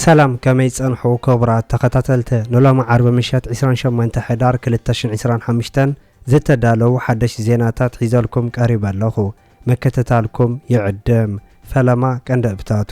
ሰላም ከመይ ጸንሑ ክቡራት ተኸታተልቲ ንሎሚ ዓርቢ ምሸት ዕስራን ሸሞንተ ሕዳር ክልተ ሽሕን ዕስራን ሓምሽተን ዝተዳለዉ ሓደሽቲ ዜናታት ሒዘልኩም ቀሪበ ኣለኹ ምክትታልኩም ይዕድም ፈለማ ቀንደብታቱ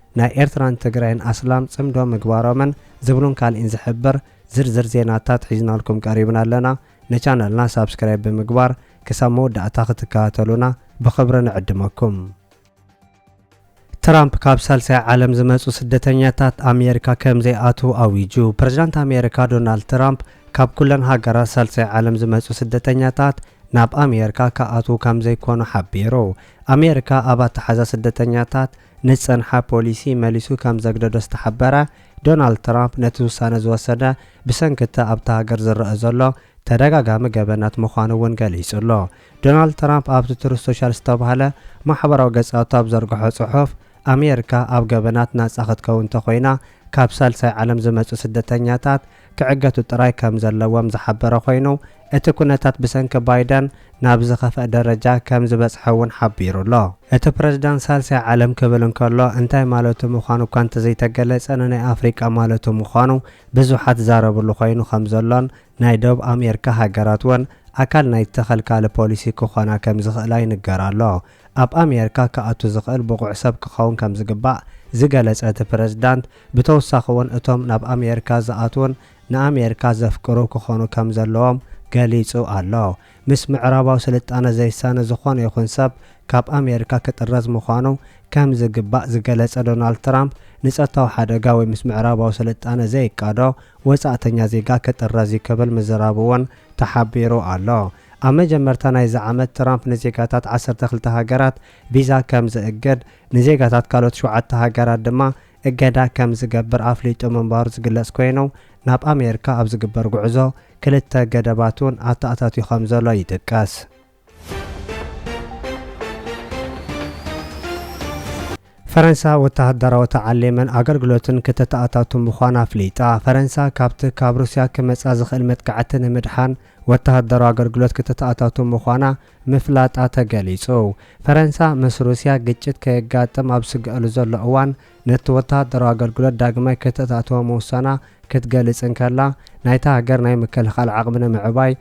ናይ ኤርትራን ትግራይን ኣስላም ጽምዶ ምግባሮምን ዝብሉን ካልኢን ዝሕብር ዝርዝር ዜናታት ሒዝናልኩም ቀሪብና ኣለና። ንቻነልና ሳብስክራይብ ብምግባር ክሳብ መወዳእታ ክትከታተሉና ብኽብሪ ንዕድመኩም። ትራምፕ ካብ ሳልሳይ ዓለም ዝመጹ ስደተኛታት ኣሜሪካ ከም ዘይኣትዉ ኣዊጁ። ፕረዚዳንት ኣሜሪካ ዶናልድ ትራምፕ ካብ ኩለን ሃገራት ሳልሳይ ዓለም ዝመጹ ስደተኛታት ናብ ኣሜሪካ ክኣትዉ ከም ዘይኮኑ ሓቢሩ። ኣሜሪካ ኣብ ኣተሓዛ ስደተኛታት ንዝጸንሓ ፖሊሲ መሊሱ ከም ዘግደዶ ዝተሓበረ ዶናልድ ትራምፕ ነቲ ውሳነ ዝወሰደ ብሰንኪ'ቲ ኣብታ ሃገር ዝረኣ ዘሎ ተደጋጋሚ ገበናት ምዃኑ'ውን ገሊጹ'ሎ። ዶናልድ ትራምፕ ኣብቲ ትሩዝ ሶሻል ዝተባህለ ማሕበራዊ ገጻቱ ኣብ ዘርግሖ ጽሑፍ፣ ኣሜሪካ ኣብ ገበናት ናጻ ክትከውን እንተኾይና ካብ ሳልሳይ ዓለም ዝመጹ ስደተኛታት ክዕገቱ ጥራይ ከምዘለዎም ዝሓበረ ኮይኑ፣ እቲ ኩነታት ብሰንኪ ባይደን ናብ ዝኸፍኣ ደረጃ ከምዝበጽሐ እውን ሓቢሩ ኣሎ። እቲ ፕረዚዳንት ሳልሳይ ዓለም ክብል እንከሎ እንታይ ማለቱ ምዃኑ እኳ እንተዘይተገለጸ ንናይ ኣፍሪቃ ማለቱ ምዃኑ ብዙሓት ዝዛረብሉ ኮይኑ ከምዘሎን ናይ ደቡብ ኣሜርካ ሃገራት እውን ኣካል ናይቲ ከልካሊ ፖሊሲ ክኾና ከምዝኽእላ ይንገር ኣሎ። ኣብ ኣሜርካ ክኣቱ ዝኽእል ብቑዕ ሰብ ክኸውን ከም ዝግባእ ዝገለጸ እቲ ፕረዚዳንት፣ ብተወሳኺ'ውን እቶም ናብ ኣሜርካ ዝኣትዉን ንኣሜርካ ዘፍቅሩ ክኾኑ ከም ዘለዎም ገሊጹ ኣሎ። ምስ ምዕራባዊ ስልጣነ ዘይሳነ ዝኾነ ይኹን ሰብ ካብ ኣሜርካ ክጥረዝ ምዃኑ ከም ዝግባእ ዝገለጸ ዶናልድ ትራምፕ፣ ንጸጥታዊ ሓደጋ ወይ ምስ ምዕራባዊ ስልጣነ ዘይቃዶ ወጻእተኛ ዜጋ ክጥረዝ'ዩ ክብል ምዝራቡ'ውን ተሓቢሩ ኣሎ። ኣብ መጀመርታ ናይዚ ዓመት ትራምፕ ንዜጋታት ዓሰርተ ክልተ ሃገራት ቪዛ ከም ዝእግድ፣ ንዜጋታት ካልኦት ሸውዓተ ሃገራት ድማ እገዳ ከም ዝገብር ኣፍሊጡ ምንባሩ ዝግለጽ ኮይኑ፣ ናብ ኣሜሪካ ኣብ ዝግበር ጉዕዞ ክልተ ገደባት'ውን ኣተኣታትዩ ከም ዘሎ ይጥቀስ። ፈረንሳ ወተሃደራዊ ተዓሊምን ኣገልግሎትን ክተተኣታቱ ምዃና ኣፍሊጣ። ፈረንሳ ካብቲ ካብ ሩስያ ክመጻ ዝኽእል መጥቃዕቲ ንምድሓን ወተሃደራዊ ኣገልግሎት ክተተኣታቱ ምዃና ምፍላጣ ተገሊጹ። ፈረንሳ ምስ ሩስያ ግጭት ከየጋጥም ኣብ ዝስገኣሉ ዘሎ እዋን ነቲ ወተሃደራዊ ኣገልግሎት ዳግማይ ክተተኣትዎ ምውሳና ክትገልጽ እንከላ ናይታ ሃገር ናይ ምክልኻል ዓቕሚ ንምዕባይ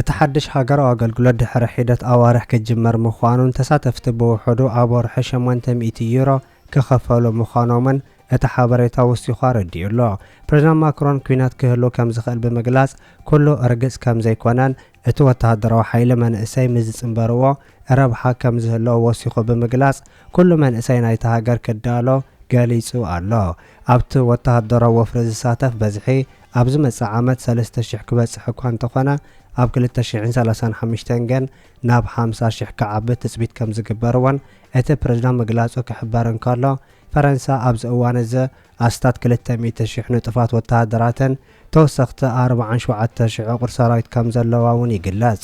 እቲ ሓድሽ ሃገራዊ ኣገልግሎት ድሕሪ ሒደት ኣዋርሕ ክጅመር ምዃኑን ተሳተፍቲ ብውሑዱ ኣብ ወርሒ ሸሞንተ ሚእቲ ዩሮ ክኸፈሉ ምዃኖምን እቲ ሓበሬታ ወሲኹ ኣረዲኡ ኣሎ። ፕሬዝዳንት ማክሮን ኲናት ክህሉ ከም ዝኽእል ብምግላጽ ኩሉ ርግጽ ከም ዘይኮነን እቲ ወተሃደራዊ ሓይሊ መንእሰይ ምስ ዝጽንበርዎ ረብሓ ከም ዝህልዎ ወሲኹ ብምግላጽ ኩሉ መንእሰይ ናይታ ሃገር ክዳሎ ገሊጹ ኣሎ። ኣብቲ ወተሃደራዊ ወፍሪ ዝሳተፍ በዝሒ ኣብ ዝመጽእ ዓመት ሰለስተ ሽሕ ክበጽሕ እኳ እንተኾነ ኣብ ክልተ ሽሕን ሰላሳን ሓምሽተን ግን ናብ ሓምሳ ሽሕ ክዓቢ ትጽቢት ከም ዝግበር እውን እቲ ፕረዚዳንት ምግላጹ ክሕበር እንከሎ ፈረንሳ ኣብዚ እዋን እዚ ኣስታት ክልተ ሚእቲ ሽሕ ንጡፋት ወተሃደራትን ተወሰኽቲ ኣርብዓን ሸውዓተ ሽሕ ዕቑር ሰራዊት ከም ዘለዋ እውን ይግለጽ።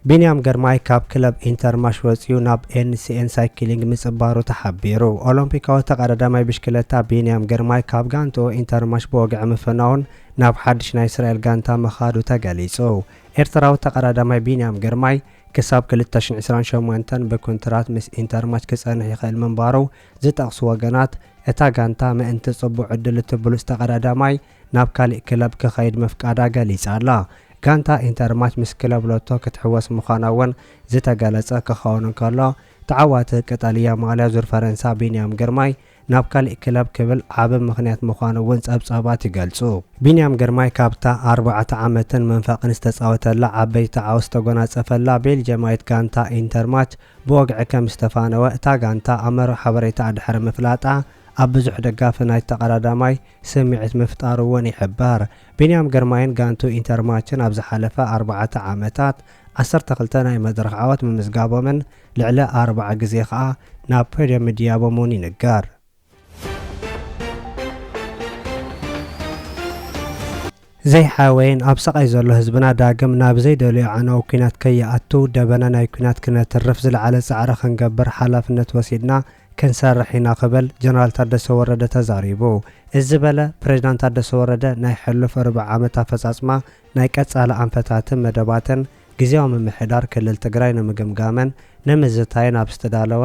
ቢንያም ግርማይ ካብ ክለብ ኢንተርማሽ ወፂኡ ናብ ኤንሲኤን ሳይክሊንግ ምፅባሩ ተሓቢሩ። ኦሎምፒካዊ ተቐዳዳማይ ብሽክለታ ቢንያም ግርማይ ካብ ጋንትኡ ኢንተርማሽ ብወግዒ ምፍናውን ናብ ሓድሽ ናይ እስራኤል ጋንታ ምኻዱ ተገሊፁ። ኤርትራዊ ተቐዳዳማይ ቢንያም ግርማይ ክሳብ 2028 ብኩንትራት ምስ ኢንተርማች ክጸንሕ ይኽእል ምንባሩ ዝጠቕሱ ወገናት፣ እታ ጋንታ ምእንቲ ጽቡቕ ዕድል እቲ ብሉጽ ተቐዳዳማይ ናብ ካሊእ ክለብ ክኸይድ ምፍቃዳ ገሊጻ ኣላ። ጋንታ ኢንተርማች ምስ ክለብ ሎቶ ክትሕወስ ምዃና'ውን ዝተገለጸ ክኸውን እንከሎ፣ ተዓዋቲ ቀጠልያ ማልያ ዙር ፈረንሳ ቢንያም ግርማይ ናብ ካሊእ ክለብ ክብል ዓቢ ምኽንያት ምዃኑ'ውን ጸብጻባት ይገልጹ። ቢንያም ግርማይ ካብታ ኣርባዕተ ዓመትን መንፈቕን ዝተጻወተላ ዓበይቲ ዓወት ዝተጎናጸፈላ ቤልጅየማዊት ጋንታ ኢንተርማች ብወግዒ ከም ዝተፋነወ እታ ጋንታ ኣብ መርበብ ሓበሬታኣ ድሕሪ ምፍላጣ፣ ኣብ ብዙሕ ደጋፊ ናይቲ ተቐዳዳማይ ስምዒት ምፍጣሩ'ውን ይሕበር። ቢንያም ግርማይን ጋንትኡ ኢንተርማችን ኣብ ዝሓለፈ ኣርባዕተ ዓመታት ዓሰርተ ክልተ ናይ መድረኽ ዓወት ምምዝጋቦምን ልዕሊ ኣርብዓ ግዜ ከኣ ናብ ፖድየም ምድያቦም'ውን ይንገር። ዘይሓወየን ኣብ ሰቓይ ዘሎ ህዝብና ዳግም ናብ ዘይደልዮ ኣዕናዊ ኩናት ከይኣቱ ደበና ናይ ኩናት ክነትርፍ ዝለዓለ ፃዕሪ ክንገብር ሓላፍነት ወሲድና ክንሰርሕ ኢና ክብል ጀነራል ታደሰ ወረደ ተዛሪቡ። እዚ ዝበለ ፕሬዚዳንት ታደሰ ወረደ ናይ ሕሉፍ ርብዒ ዓመት ኣፈፃፅማ ናይ ቀፃሊ ኣንፈታትን መደባትን ግዝያዊ ምምሕዳር ክልል ትግራይ ንምግምጋምን ንምዝታይን ኣብ ዝተዳለወ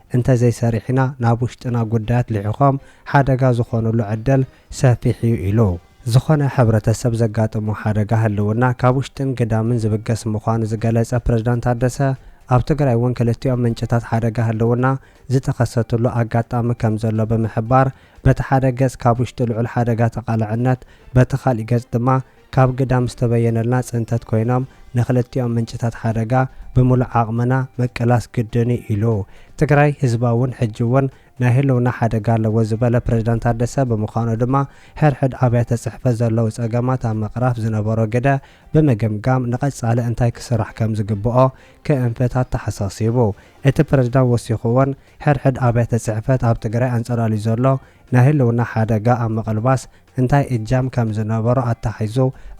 እንተዘይሰሪሕና ናብ ውሽጥና ጉዳያት ልሒኾም ሓደጋ ዝኾኑሉ ዕድል ሰፊሕ እዩ ኢሉ። ዝኾነ ሕብረተሰብ ዘጋጥሞ ሓደጋ ህልውና ካብ ውሽጥን ግዳምን ዝብገስ ምዃኑ ዝገለፀ ፕሬዝዳንት ታደሰ፣ ኣብ ትግራይ እውን ክልቲኦም ምንጭታት ሓደጋ ህልውና ዝተኸሰትሉ ኣጋጣሚ ከምዘሎ ብምሕባር፣ በቲ ሓደ ገፅ ካብ ውሽጢ ልዑል ሓደጋ ተቓላዕነት በቲ ካሊእ ገፅ ድማ ካብ ግዳም ዝተበየነልና ፅንተት ኮይኖም ንክልቲኦም ምንጭታት ሓደጋ ብሙሉእ ዓቕምና ምቅላስ ግድን ዩ ኢሉ። ትግራይ ህዝባ ውን ሕጂ ውን ናይ ህልውና ሓደጋ ኣለዎ ዝበለ ፕሬዝዳንት ታደሰ ብምዃኑ ድማ ሕድሕድ ኣብያተ ፅሕፈት ዘለዉ ፀገማት ኣብ ምቕራፍ ዝነበሮ ግደ ብምግምጋም ንቐፃሊ እንታይ ክስራሕ ከምዝግበኦ ክእንፍት ኣተሓሳሲቡ። እቲ ፕሬዝዳንት ወሲኹ ውን ሕድሕድ ኣብያተ ፅሕፈት ኣብ ትግራይ ኣንፀላልዩ ዘሎ ናይ ህልውና ሓደጋ ኣብ ምቕልባስ እንታይ እጃም ከም ዝነበሮ ኣተሓሒዙ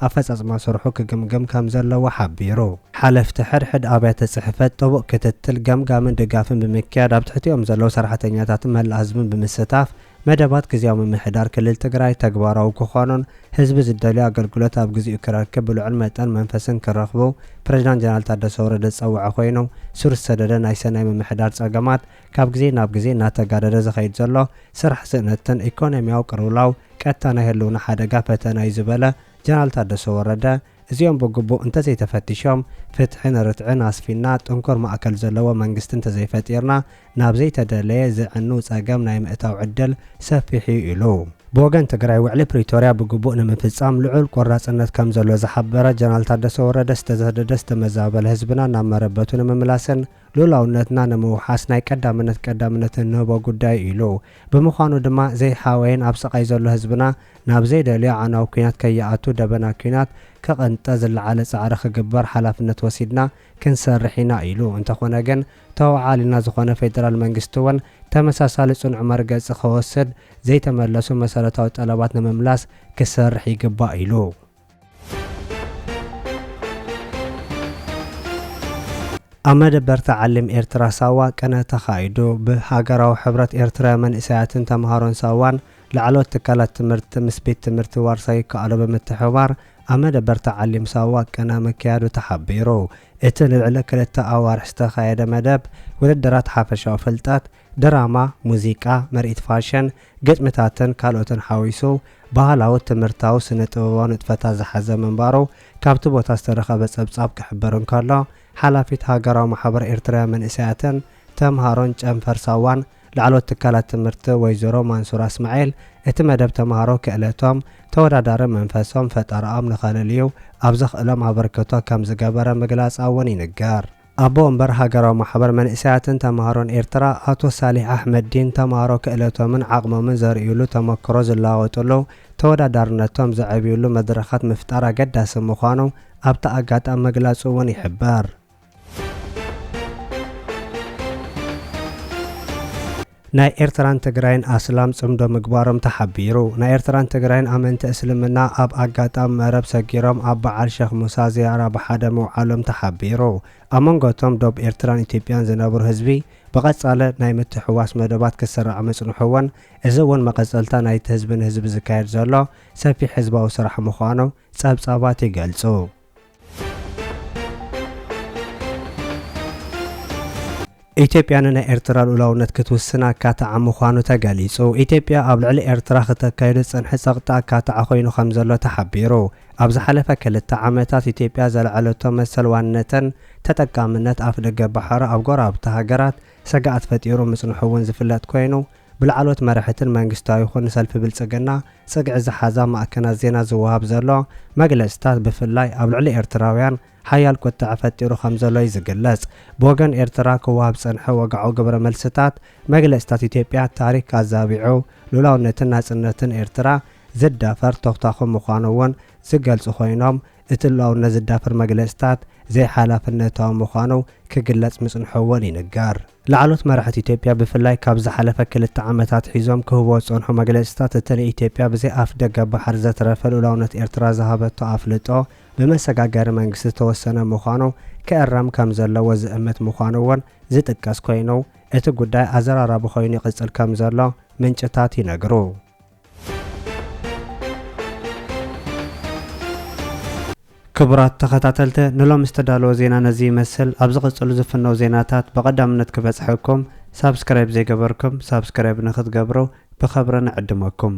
ኣፈፃፅማ ስርሑ ክግምግም ከም ዘለዎ ሓቢሩ። ሓለፍቲ ሕድሕድ ኣብያተ ፅሕፈት ጥቡቕ ክትትል፣ ገምጋምን ድጋፍን ብምክያድ ኣብ ትሕቲኦም ዘለዉ ሰራሕተኛታትን መላእ ህዝብን ብምስታፍ መደባት ግዝያዊ ምምሕዳር ክልል ትግራይ ተግባራዊ ክኾኑን ህዝቢ ዝደልዮ ኣገልግሎት ኣብ ግዚኡ ክረክብ ብልዑል መጠን መንፈስን ክረኽቡ ፕሬዚዳንት ጀነራል ታደሰ ወረደ ዝፀወዐ ኮይኑ ሱር ዝሰደደ ናይ ሰናይ ምምሕዳር ፀገማት ካብ ግዜ ናብ ግዜ እናተጋደደ ዝኸይድ ዘሎ ስራሕ ስእነትን ኢኮኖሚያዊ ቅርውላው ቀጥታ ናይ ህልውና ሓደጋ ፈተና እዩ ዝበለ ጀነራል ታደሰ ወረደ፣ እዚኦም ብግቡእ እንተዘይተፈቲሾም፣ ፍትሕን ርትዕን ኣስፊንና ጥንኩር ማእከል ዘለዎ መንግስቲ እንተዘይፈጢርና ናብ ዘይተደለየ ዘዕኑ ፀገም ናይ ምእታው ዕድል ሰፊሕ እዩ ኢሉ። ብወገን ትግራይ ውዕሊ ፕሪቶሪያ ብግቡእ ንምፍፃም ልዑል ቆራፅነት ከምዘሎ ዝሓበረ ጀነራል ታደሰ ወረደ ዝተሰደደ ዝተመዛበለ ህዝብና ናብ መረበቱ ንምምላስን ሉላውነትና ንምውሓስ ናይ ቀዳምነት ቀዳምነት እንህቦ ጉዳይ እዩ ኢሉ። ብምዃኑ ድማ ዘይሓወየን ኣብ ስቓይ ዘሎ ህዝብና ናብ ዘይደልዮ ኣዕናዊ ኲናት ከይኣቱ ደበና ኲናት ክቕንጠ ዝለዓለ ጻዕሪ ክግበር ሓላፍነት ወሲድና ክንሰርሕ ኢና ኢሉ። እንተኾነ ግን ተወዓሊና ዝኾነ ፌደራል መንግስቲ'ውን ተመሳሳሊ ጽኑዕ መርገጺ ክወስድ ዘይተመለሱ መሰረታዊ ጠለባት ንምምላስ ክሰርሕ ይግባእ ኢሉ። ኣብ መደበር ተዓሊም ኤርትራ ሳዋ ቅነ ተኻይዱ። ብሃገራዊ ሕብረት ኤርትራዊ መንእሰያትን ተመሃሮን ሳዋን ላዕለዎት ትካላት ትምህርቲ ምስ ቤት ትምህርቲ ዋርሳይ ይከኣሎ ብምትሕብባር ኣብ መደበር ተዓሊም ሳዋ ቅነ ምክያዱ ተሓቢሩ። እቲ ንልዕሊ ክልተ ኣዋርሕ ዝተኻየደ መደብ ውድድራት ሓፈሻዊ ፍልጠት፣ ድራማ፣ ሙዚቃ፣ ምርኢት ፋሽን፣ ግጥምታትን ካልኦትን ሓዊሱ ባህላዊ፣ ትምህርታዊ፣ ስነ ጥበባዊ ንጥፈታት ዝሓዘ ምንባሩ ካብቲ ቦታ ዝተረኸበ ጸብጻብ ክሕብር እንከሎ፣ ሓላፊት ሃገራዊ ማሕበር ኤርትራውያን መንእሰያትን ተምሃሮን ጨንፈር ሳዋን ላዕለዎት ትካላት ትምህርቲ ወይዘሮ ማንሱራ እስማዒል እቲ መደብ ተምሃሮ ክእለቶም፣ ተወዳዳሪ መንፈሶም፣ ፈጠራኦም ንኸለልዩ ኣብ ዘኽእሎም ኣበርክቶ ከምዝገበረ ምግላጻ'ውን ይንገር። ኣቦ ወንበር ሃገራዊ ማሕበር መንእሰያትን ተማሃሮን ኤርትራ ኣቶ ሳሊሕ ኣሕመድዲን፣ ተማሃሮ ክእለቶምን ዓቕሞምን ዘርእዩሉ፣ ተመክሮ ዝለዋወጥሉ፣ ተወዳዳርነቶም ዘዕብዩሉ መድረኻት ምፍጣር ኣገዳሲ ምዃኑ ኣብቲ ኣጋጣሚ ምግላጹ'ውን ይሕበር። ናይ ኤርትራን ትግራይን ኣስላም ጽምዶ ምግባሮም ተሓቢሩ። ናይ ኤርትራን ትግራይን ኣመንቲ እስልምና ኣብ ኣጋጣሚ መረብ ሰጊሮም ኣብ በዓል ሸኽ ሙሳ ዝያራ ብሓደ ምውዓሎም ተሓቢሩ። ኣብ መንጎ እቶም ዶብ ኤርትራን ኢትዮጵያን ዝነብሩ ህዝቢ ብቐጻለ ናይ ምትሕውዋስ መደባት ክስራዕ ምጽንሑ'ውን እዚ'ውን መቐጸልታ ናይቲ ህዝቢ ንህዝቢ ዝካየድ ዘሎ ሰፊሕ ህዝባዊ ስራሕ ምዃኑ ጸብጻባት ይገልጹ። ኢትዮጵያ ንናይ ኤርትራ ልኡላውነት ክትውስን ኣካታዓ ምዃኑ ተገሊጹ። ኢትዮጵያ ኣብ ልዕሊ ኤርትራ ክተካይዶ ዝጸንሐ ጸቕጢ ኣካታዓ ኮይኑ ከምዘሎ ተሓቢሩ። ኣብ ዝሓለፈ ክልተ ዓመታት ኢትዮጵያ ዘልዐለቶ መሰል ዋንነተን ተጠቃምነት ኣፍደገ ባሕራ ኣብ ጎረባብቲ ሃገራት ስግኣት ፈጢሩ ምጽንሑ'ውን ዝፍለጥ ኮይኑ፣ ብላዕለዎት መራሕትን መንግስታዊ ይኹን ንሰልፊ ብልጽግና ጽግዒ ዝሓዛ ማዕከናት ዜና ዝወሃብ ዘሎ መግለጺታት ብፍላይ ኣብ ልዕሊ ኤርትራውያን ሓያል ቁጠዐ ፈጢሩ ከምዘሎዩ ዝግለጽ። ብወገን ኤርትራ ክወሃብ ዝጸንሐ ወግዓዊ ግብረ መልስታት መግለጺታት ኢትዮጵያ ታሪክ ኣዛቢዑ ልኡላውነትን ናጽነትን ኤርትራ ዝዳፈር ቶኽታኹ ምዃኑ'ውን ዝገልጹ ኮይኖም፣ እቲ ሉኣውነት ዝዳፈር መግለፅታት ዘይሓላፍነታዊ ምዃኑ ክግለፅ ምፅንሑ እውን ይንገር። ላዕለዎት መራሕቲ ኢትዮጵያ ብፍላይ ካብ ዝሓለፈ ክልተ ዓመት ኣትሒዞም ክህቡዎ ዝፀንሑ መግለፅታት እቲ ንኢትዮጵያ ብዘይ ኣፍደገ ባሕሪ ዘትረፈ ልኡላውነት ኤርትራ ዝሃበቶ ኣፍልጦ ብመሰጋገሪ መንግስቲ ዝተወሰነ ምዃኑ ክእረም ከም ዘለዎ ዝእምት ምዃኑ እውን ዝጥቀስ ኮይኑ እቲ ጉዳይ ኣዘራራቢ ኮይኑ ይቕፅል ከም ዘሎ ምንጭታት ይነግሩ። ክቡራት ተኸታተልተ ንሎሚ ዝተዳለወ ዜና ነዚ ይመስል ኣብ ዝቕጽሉ ዝፍነው ዜናታት ብቐዳምነት ክበጽሐኩም ሳብስክራይብ ዘይገበርኩም ሳብስክራይብ ንክትገብሩ ብኸብሪ ንዕድመኩም